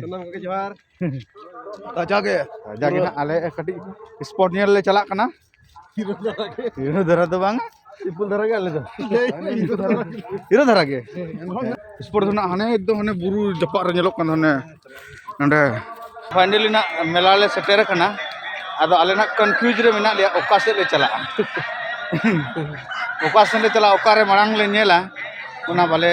ᱥᱟᱱᱟᱢ ᱠᱚᱜᱮ ᱡᱚᱦᱟᱨ ᱡᱟᱜᱮ ᱡᱟᱜᱮ ᱱᱟᱜ ᱟᱞᱮ ᱠᱟᱹᱴᱤᱡ ᱥᱯᱚᱴ ᱧᱮᱞ ᱞᱮ ᱪᱟᱞᱟᱜ ᱠᱟᱱᱟ ᱦᱤᱨᱳ ᱫᱷᱟᱨᱟ ᱫᱚ ᱵᱟᱝ ᱥᱤᱢᱯᱤᱞ ᱫᱷᱟᱨᱟ ᱜᱮ ᱟᱞᱮ ᱫᱚ ᱦᱤᱨᱳ ᱫᱷᱟᱨᱟ ᱜᱮ ᱥᱯᱚᱴ ᱫᱚ ᱱᱟᱜ ᱦᱟᱱᱮ ᱮᱠᱫᱚᱢ ᱦᱟᱱᱮ ᱵᱩᱨᱩ ᱡᱟᱯᱟᱜ ᱨᱮ ᱧᱮᱞᱚᱜ ᱠᱟᱱ ᱦᱟᱱᱮ ᱱᱚᱸᱰᱮ ᱯᱷᱟᱭᱱᱮᱞᱤ ᱱᱟᱜ ᱢᱮᱞᱟ ᱞᱮ ᱥᱮᱴᱮᱨ ᱟᱠᱟᱱᱟ ᱟᱫᱚ ᱟᱞᱮ ᱱᱟᱜ ᱠᱚᱱᱯᱷᱤᱭᱩᱡᱽ ᱨᱮ ᱢᱮᱱᱟᱜ ᱞᱮᱭᱟ ᱚᱠᱟ ᱥᱮᱫ ᱞᱮ ᱪᱟᱞᱟᱜᱼᱟ ᱚᱠᱟ ᱥᱮᱫ ᱞᱮ ᱪᱟᱞᱟᱜᱼᱟ ᱚᱠᱟᱨᱮ ᱢᱟᱲᱟᱝ ᱞᱮ ᱧᱮᱞᱟ ᱚᱱᱟ ᱵᱟᱞᱮ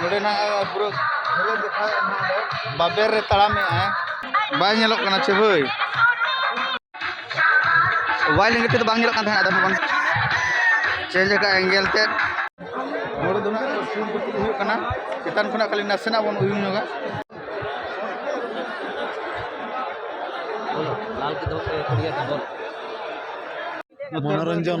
ᱱᱚᱰᱮᱱᱟᱜ ᱯᱩᱨᱟᱹ ᱜᱷᱟᱹᱨᱤ ᱫᱮᱠᱷᱟᱣ ᱮᱫ ᱱᱟᱦᱟᱜ ᱫᱚ ᱵᱟᱵᱮᱨ ᱨᱮ ᱛᱟᱲᱟᱢ ᱮᱫᱟᱭ ᱵᱟᱭ ᱧᱮᱞᱚᱜ ᱠᱟᱱᱟ ᱪᱮ ᱵᱷᱟᱹᱭ ᱵᱟᱭ ᱞᱮᱸᱜᱮ ᱛᱮᱫᱚ ᱵᱟᱝ ᱧᱮᱞᱚᱜ ᱠᱟᱱ ᱛᱟᱦᱮᱸᱫ ᱟᱫᱚ ᱵᱟᱝ ᱪᱮᱧᱡᱽ ᱟᱠᱟᱫ ᱮᱝᱜᱮᱞ ᱛᱮᱫ ᱱᱚᱰᱮ ᱫᱚ ᱱᱟᱦᱟᱜ ᱥᱩᱨ ᱠᱚ ᱛᱩᱫ ᱦᱩᱭᱩᱜ ᱠᱟᱱᱟ ᱪᱮᱛᱟᱱ ᱠᱷᱚᱱᱟᱜ ᱠᱷᱟᱹᱞᱤ ᱱᱟᱥᱮᱱᱟᱜ ᱵᱚᱱ ᱩᱭᱩᱝ ᱧᱚᱜᱟ ᱢᱚᱱᱳᱨᱚᱧᱡᱚᱱ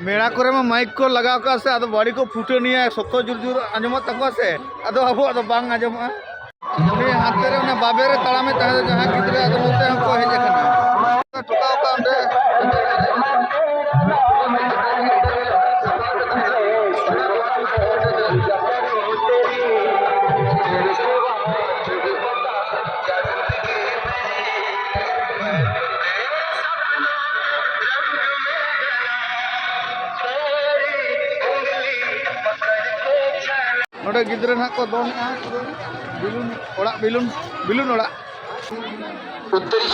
ᱢᱮᱲᱟ ᱠᱚᱨᱮ ᱢᱟ ᱢᱟᱭᱤᱠ ᱠᱚ ᱞᱟᱜᱟᱣ ᱠᱟᱜᱼᱟ ᱥᱮ ᱟᱫᱚ ᱵᱟᱹᱲᱤ ᱠᱚ ᱯᱷᱩᱴᱟᱹᱱᱤᱭᱟ ᱥᱚᱠᱛᱚ ᱡᱳᱨ ᱡᱳᱨ ᱟᱸᱡᱚᱢᱚᱜ ᱛᱟᱠᱚᱣᱟ ᱥᱮ ᱟᱫᱚ ᱟᱵᱚᱣᱟᱜ ᱫᱚ ᱵᱟᱝ ᱟᱸᱡᱚᱢᱚᱜᱼᱟ ᱩᱱᱤ ᱦᱟᱱᱛᱮ ᱨᱮ ᱚᱱᱟ ᱵᱟᱵᱮ ᱨᱮ ᱛᱟᱲᱟᱢᱮ ᱛᱟᱦᱮᱸ ᱫᱚ ᱡᱟᱦᱟᱸ ᱜᱤᱫᱽᱨᱟᱹ ᱟᱫᱚ ᱱᱚᱛᱮ ᱦᱚᱸᱠᱚ ᱦᱮᱡ ᱟᱠᱟᱱᱟ ᱴᱷᱚᱠᱟᱣ ᱠᱟᱜ ᱚᱸᱰᱮ ᱱᱚᱰᱮ ᱜᱤᱫᱽᱨᱟᱹ ᱱᱟᱦᱟᱜ ᱠᱚ ᱫᱚᱱᱮᱜᱼᱟ ᱵᱤᱞᱩᱱ ᱚᱲᱟᱜ ᱵᱤᱞᱩᱱ ᱵᱤᱞᱩᱱ ᱚᱲᱟᱜ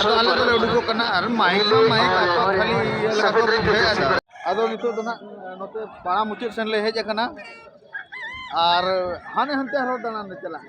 ᱟᱫᱚ ᱟᱞᱮ ᱫᱚᱞᱮ ᱩᱰᱩᱠᱚᱜ ᱠᱟᱱᱟ ᱟᱨ ᱢᱟᱭᱤᱠ ᱫᱚ ᱢᱟᱭᱤᱠ ᱟᱠᱚ ᱠᱷᱟᱹᱞᱤ ᱤᱭᱟᱹ ᱞᱮᱠᱟ ᱠᱚ ᱵᱩᱡᱷᱟᱹᱣ ᱮᱫᱟ ᱟᱫᱚ ᱱᱤᱛᱚᱜ ᱫᱚ ᱱᱟᱜ ᱱᱚᱛᱮ ᱯᱟᱲᱟ ᱢᱩᱪᱟᱹᱫ ᱥᱮᱱ ᱞᱮ ᱦᱮᱡ ᱟᱠᱟᱱᱟ ᱟᱨ ᱦᱟᱱᱮ ᱦᱟᱱᱛᱮ ᱟᱨᱦᱚᱸ ᱫᱟᱬᱟᱱ ᱞᱮ ᱪᱟᱞᱟᱜᱼᱟ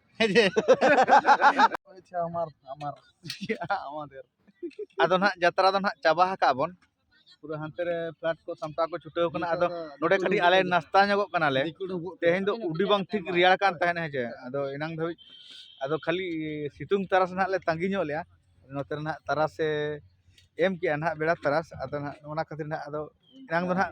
ᱟᱫᱚ ᱱᱟᱜ ᱡᱟᱛᱨᱟ ᱫᱚ ᱱᱟᱜ ᱪᱟᱵᱟ ᱟᱠᱟᱫ ᱵᱚᱱ ᱯᱩᱨᱟᱹ ᱦᱟᱱᱛᱮ ᱨᱮ ᱯᱞᱟᱴ ᱠᱚ ᱥᱟᱢᱴᱟᱣ ᱠᱚ ᱪᱷᱩᱴᱟᱹᱣ ᱠᱟᱱᱟ ᱟᱫᱚ ᱱᱚᱰᱮ ᱠᱟᱹᱴᱤᱡ ᱟᱞᱮ ᱱᱟᱥᱛᱟ ᱧᱚᱜᱚᱜ ᱠᱟᱱᱟᱞᱮ ᱛᱮᱦᱮᱧ ᱫᱚ ᱩᱰᱤ ᱵᱟᱝ ᱴᱷᱤᱠ ᱨᱮᱭᱟᱲ ᱠᱟᱱ ᱛᱟᱦᱮᱱ ᱦᱮᱸᱪᱮ ᱟᱫᱚ ᱮᱱᱟᱝ ᱫᱷᱟᱹᱵᱤᱡ ᱟᱫᱚ ᱠᱷᱟᱹᱞᱤ ᱥᱤᱛᱩᱝ ᱛᱟᱨᱟᱥ ᱱᱟᱜ ᱞᱮ ᱛᱟᱺᱜᱤ ᱧᱚᱜ ᱞᱮᱭᱟ ᱱᱚᱛᱮ ᱨᱮ ᱱᱟᱜ ᱛᱟᱨᱟᱥᱮ ᱮᱢ ᱠᱮᱜᱼᱟ ᱱᱟᱜ ᱵᱮᱲᱟ ᱛᱟᱨᱟᱥ ᱟᱫᱚ ᱱᱟᱜ ᱚᱱᱟ ᱠᱷᱟᱹᱛᱤᱨ ᱱᱟᱜ ᱟᱫᱚ ᱮᱱᱟᱝ ᱫᱚ ᱱᱟᱜ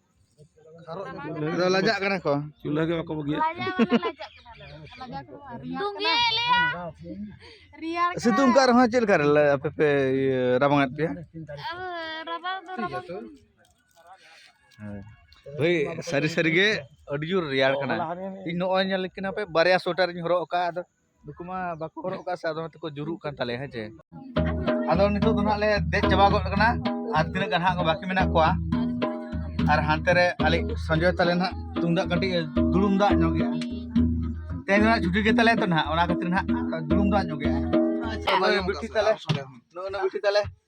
ᱟᱫᱚ ᱞᱟᱡᱟᱜ ᱠᱟᱱᱟ ᱠᱚ ᱪᱩᱞᱦᱟᱹ ᱜᱮ ᱵᱟᱠᱚ ᱵᱟᱹᱜᱤᱭᱟ ᱥᱤᱛᱩᱝ ᱠᱟᱜ ᱨᱮᱦᱚᱸ ᱪᱮᱫ ᱞᱮᱠᱟ ᱟᱯᱮ ᱯᱮ ᱨᱟᱵᱟᱝ ᱮᱫ ᱯᱮᱭᱟ ᱦᱳᱭ ᱥᱟᱹᱨᱤ ᱥᱟᱹᱨᱤᱜᱮ ᱟᱹᱰᱤ ᱡᱳᱨ ᱨᱮᱭᱟᱲ ᱠᱟᱱᱟ ᱤᱧ ᱱᱚᱜᱼᱚᱭ ᱧᱮᱞ ᱠᱤᱱᱟ ᱯᱮ ᱵᱟᱨᱭᱟ ᱥᱳᱭᱮᱴᱟᱨᱤᱧ ᱦᱚᱨᱚᱜ ᱟᱠᱟᱫᱼᱟ ᱟᱫᱚ ᱱᱩᱠᱩ ᱢᱟ ᱵᱟᱠᱚ ᱦᱚᱨᱚᱜ ᱠᱟᱜ ᱥᱮ ᱟᱫᱚ ᱦᱚᱭᱛᱚ ᱠᱚ ᱡᱩᱨᱩᱜ ᱠᱟᱱ ᱛᱟᱞᱮᱭᱟ ᱦᱮᱸ ᱪᱮ ᱟᱫᱚ ᱱᱤᱛᱚᱜ ᱫᱚ ᱱᱟᱦᱟᱜ ᱞᱮ ᱫᱮᱡ ᱪᱟᱵᱟ ᱜᱚᱫ ᱠᱟᱱᱟ ᱟᱨ ᱛᱤᱱᱟᱹᱜ ᱜᱟᱱ ᱦᱟᱸᱜ ᱵᱟᱹᱠᱤ ᱢᱮᱱᱟᱜ ᱠᱚᱣᱟ ᱟᱨ ᱦᱟᱱᱛᱮ ᱨᱮ ᱟᱞᱮ ᱥᱚᱸᱡᱚᱭ ᱛᱟᱞᱮ ᱱᱟᱦᱟᱜ ᱛᱩᱢᱫᱟᱜ ᱠᱟᱹᱴᱤᱡ ᱫᱩᱲᱩᱢ ᱫᱟᱜ ᱧᱚᱜ ᱜᱮᱭᱟ ᱛᱮᱦᱮᱧ ᱫᱚ ᱱᱟᱦᱟᱜ ᱪᱷᱩᱴᱤ ᱜᱮ ᱛᱟᱞᱮ ᱛᱚ ᱱᱟᱦᱟᱜ ᱚᱱᱟ ᱠᱷᱟᱹᱛᱤᱨ ᱱᱟᱦᱟᱜ ᱫᱩᱲᱩᱢ ᱫᱟᱜ ᱧᱚᱜ ᱜᱮᱭᱟ ᱵᱤᱴᱤ ᱛᱟᱞᱮ ᱱᱚᱜᱼᱚᱭ ᱵᱤᱴᱤ ᱛᱟᱞᱮ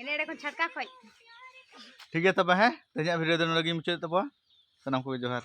ᱮᱱᱮ ᱮᱲᱮ ᱠᱷᱚᱱ ᱪᱷᱟᱴᱠᱟ ᱠᱷᱚᱡ ᱴᱷᱤᱠ ᱜᱮᱭᱟ ᱛᱚᱵᱮ ᱦᱮᱸ ᱛᱮᱦᱮᱧᱟᱜ ᱵᱷᱤᱰᱤᱭᱳ ᱫᱚ ᱱᱚᱰᱮ ᱜᱮ ᱢᱩᱪᱟᱹᱫ ᱛᱟᱵᱚᱣᱟ ᱥᱟᱱᱟᱢ ᱠᱚᱜᱮ ᱡᱚᱦᱟᱨ